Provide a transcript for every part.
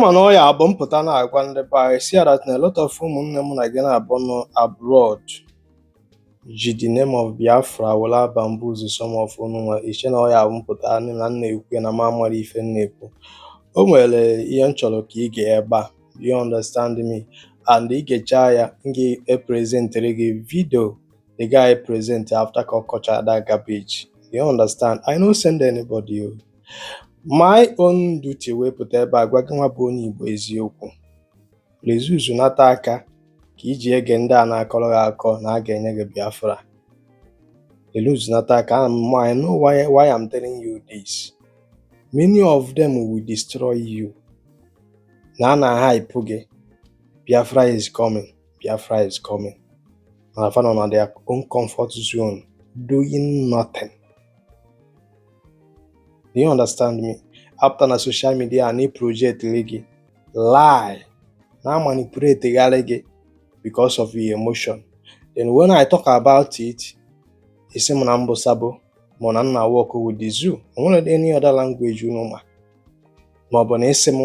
mana ọ ya-abụ m pụta na-agwa ndị be anyị si that na a lot of ụmụnne m na gị na-abụ nọ abroad ji the name of Biafra were abamboozle some of unu nwa i che na ọ ya-abụ m pụta anị na m na-ekwu ya na m amarọ ife m na-ekwu o nwere ihe m chọrọ ka i gee ebe a do you understand me and i gecha ya m ga-eprezentere gị video the guy present after ka ọ kọchara that garbage do you understand I no send anybody o My own duty wee pụta ebe a gwa gị nwa bụ onye Igbo eziokwu. Reduce nata aka ka i ji ege ndị a na-akọrọ gị akọ na a ga-enye gị Biafra. Reduce nata aka ana m I know why, why I'm telling you this. Many of them will destroy you. Na a na-hype gị Biafra is coming, Biafra is coming. Mana fa nọ na their own comfort zone doing nothing. do you understand me a pụta na social media na-eprojectiri gị lie na-amanipulategharị gị because of your emotion then when I talk about it ị sị m na m bụ sabo ma na m na-work with the zoo o nwere any other language unu ma ma ọ bụ na ị sị m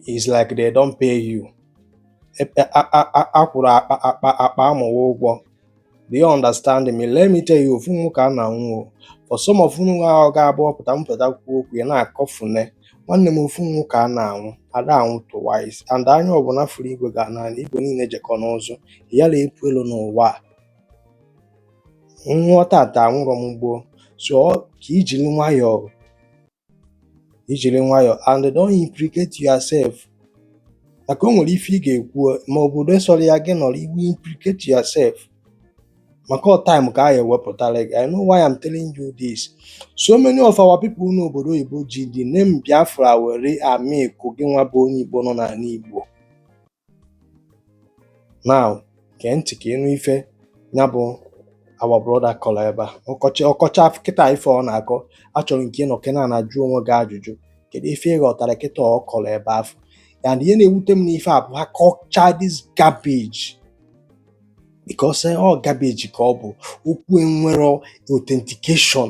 is like they don pay you a kwụrụ akpa amụ a ụgwọ do you understand me let me tell you ofu ọnwụ ka a na-anwụ for some of unu nwa ọ ga-abụ ọ pụta m pụta kwuo okwu ya na-akọfune nwanne m ofu ọnwụ ka a na-anwụ a da anwụ twice and anya ọbụla fụrụ igwe ga na igwe niile jekọ n'ụzụ yara epu elo n'ụwa m nwụọ tata anwụrọ m gboo so ka i jiri nwayọọ i jiri nwayọọ and don't implicate yourself maka o nwere ife ị ga-ekwu ma obodo sọrọ ya gị nọrọ iwu implicate yourself maka ọ time ka a ya-ewepụtara gị I know why I'm telling you this so many of our people n'obodo oyibo ji the name Biafra were amilk gị nwa bụ onye Igbo nọ n'anị Igbo now gee ntị ka ị nụ ife ya bụ our brother kọrọ ebe a ọ kọchị ọ kọcha kịta ife ọ na-akọ achọrọ m ka ị nọkene ana jụọ onwe gị ajụjụ kedu ife ị ghọtara kịta ọ kọrọ ebe afụ and ihe na-ewute m n'ife a bụ ha kọcha this garbage because eh, ọ garbage ka ọ bụ okwu enwerọ authentication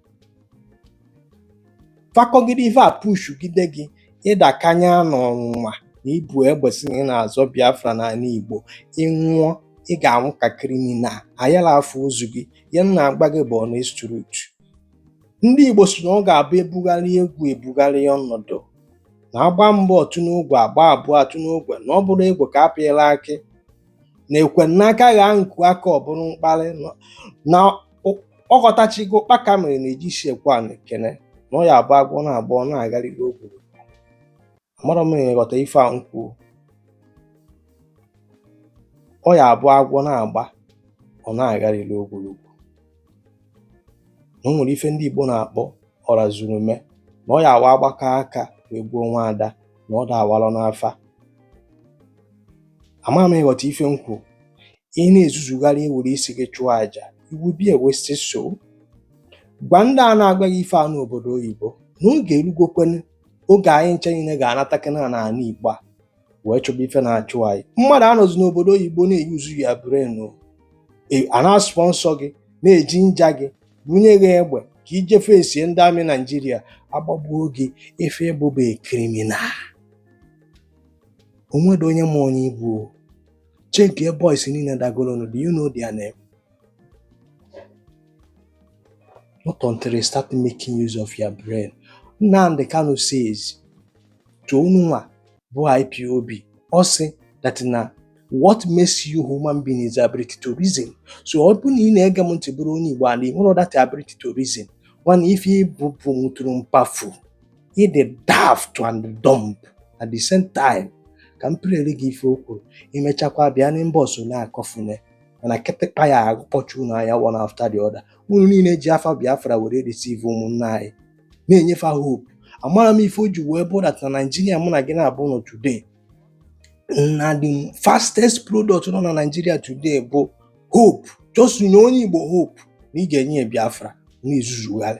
fa kọgide ife a pushugide gị ị dakanye n'ọnwụnwa na i bu egbe sị na ị na-azọ biafra n'anị igbo ị nwụọ ị ga-anwụ ka criminal a yala afụ ozu gị anya na a gbaa gị gbuo na street ndị igbo sị na ọ ga-abụ e bugharịa egwu e bugharịa ọnọdụ na a gbaa mbụ ọ tụọ n'ogwe a gbaa abụọ ọ tụọ n'ogwe na ọ bụrụ ogwe ka a pịara akụ na e kwee n'aka ghaa nkụ aka ọ bụrụ mkparị na ọ ghọtachigo kpaka mere na e ji isi ekwe ana ekene na ọ ya abụ agwọ na-agba ọ na-agharịrị ogologo amarọ m ị ghọta ife a m kwuo ọ ya abụ agwọ na-agba ọ na-agharịrị ogologo na o nwere ife ndị Igbo na-akpọ ọra zuru ume na ọ ya abụ a gbakọ aka wee gbuo nwa ada na ọ da awalọ n'afa amarọ m ị ghọta ife m kwu ị na-ezuzugharị e were isi gị chụọ aja iwu bia wesị so gwa ndị a na-agwa gị ife a n'obodo oyibo na oge erugokwenụ oge anyị ncha niile ga-anatakena na ala igbo a wee chọba ife na-achụ anyị mmadụ anọzi n'obodo oyibo na-eyuzu your brain e, a na-asponsor gị na-eginger gị bunye gị egbe ka ị je facie ndị army naijiria a gbagbuo gị ife ị bụ bụ criminal o nwerọ onye ma onye ị bụ Chekie boys niile dagolonu, do you know their name? Not until they start making use of your brain. Nnamdi Kanu says to unu nwa bụ IPOB, ọ sị that na what makes you human being is ability to reason so ọ bụrụ na ị na-ege m ntị bụrụ onye Igbo ala ị nwere that ability to reason nwanna ife ị bụ bụ mụtụrụ mpafu ị dị daft and dumb at the same time ka m playere gị ife o kwuru i mechakwa bịa n'inbox na-akọfune mana kịtịkpa ya akpọchi unu anya one after the other unu niile ji afa Biafra were deceive ụmụnna anyị na-enye fa hope amarọ m ife o ji wee bụ that na Naijiria mụ na gị na-abụọ nọ today na the fastest product nọ na Naijiria today bụ hope just nye onye Igbo hope na ị ga-enye ya Biafra na-ezuzugharị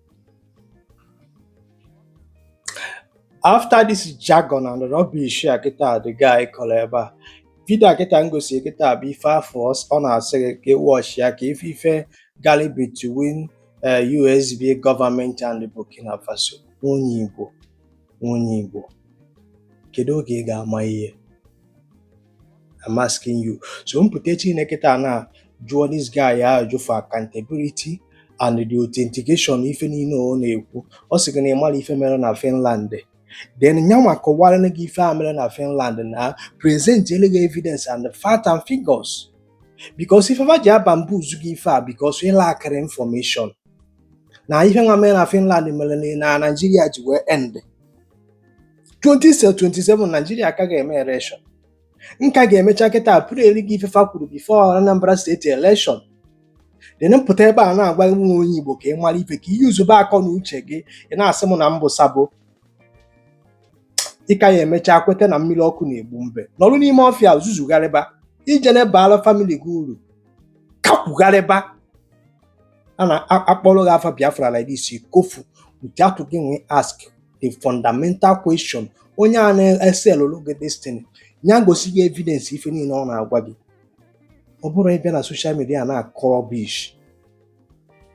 after this jargon and rubbish a kịta the guy kọrọ ebe a vidio a kịta m gosiri kịta bụ ife afọ ọs- ọ na-asị gị ka ị watch ya ka ị fụ ife galị between eh, US government and burkina faso nwa onye igbo nwa onye igbo kedu oge ị ga-ama ihe I'm asking you so m pụta echi kịta a na jụọ this guy ajụjụ for accountability and the authentication ife niile ọ na-ekwu ọ sị gị na ị marọ ife mere na Finland then ya nwa kọwara gị ife a mere na Finland na presentele gị evidence and the fact and figures because ife fa ji abamboozle gị ife a because ị lackịrị information na ife nwa mere na Finland mere na na Naịjirịa ji wee end 2027 Naijiria ka ga-eme election nka ga-emecha kịta pụrụ eri gị ife fa kwuru bifo Anambra steeti election dịrị m pụta ebe a na-agwa nwa onye Igbo ka ị mara ife ka ị yuzube akọ na uche gị ị na-asị m na m bụ sabo ị ka ya-emecha kweta na mmiri ọkụ na-egbu mbe nọrụ n'ime ọfịa zuzugharịba ije na-abara famili gị uru kakwugharịba a na-akpọrọ gị afa Biafra like this kofu without gịnwa ask the fundamental question onye a na-eselụrụ gị this thing ya gosi gị evidence ife niile ọ na-agwa gị ọ bụrụ ịbịa na soshal midia na-akọ rubbish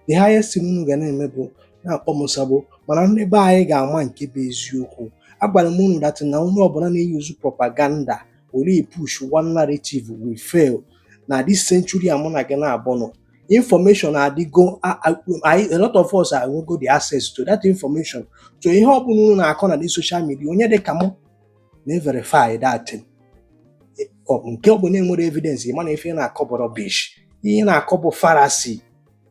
the highest thing unu ga na-eme bụ na-akpọ m sabo mana ndị be anyị ga-ama nke bụ eziokwu agwara m unu dat na onye ọbụla na-eyuzu propaganda were push one narrative will fail na this century a mụ na gị naabọ nọ information adịgo a- a- anyị- a lot of us enwego the access to that information so ihe ọ bụla unu na-akọ na the social media onye dị ka mụ na-everify that thing. Ọ bụ nke ọ bụla enwerọ evidence ị ma na ife ị na-akọ bụ rubbish ihe ị na-akọ bụ fallacy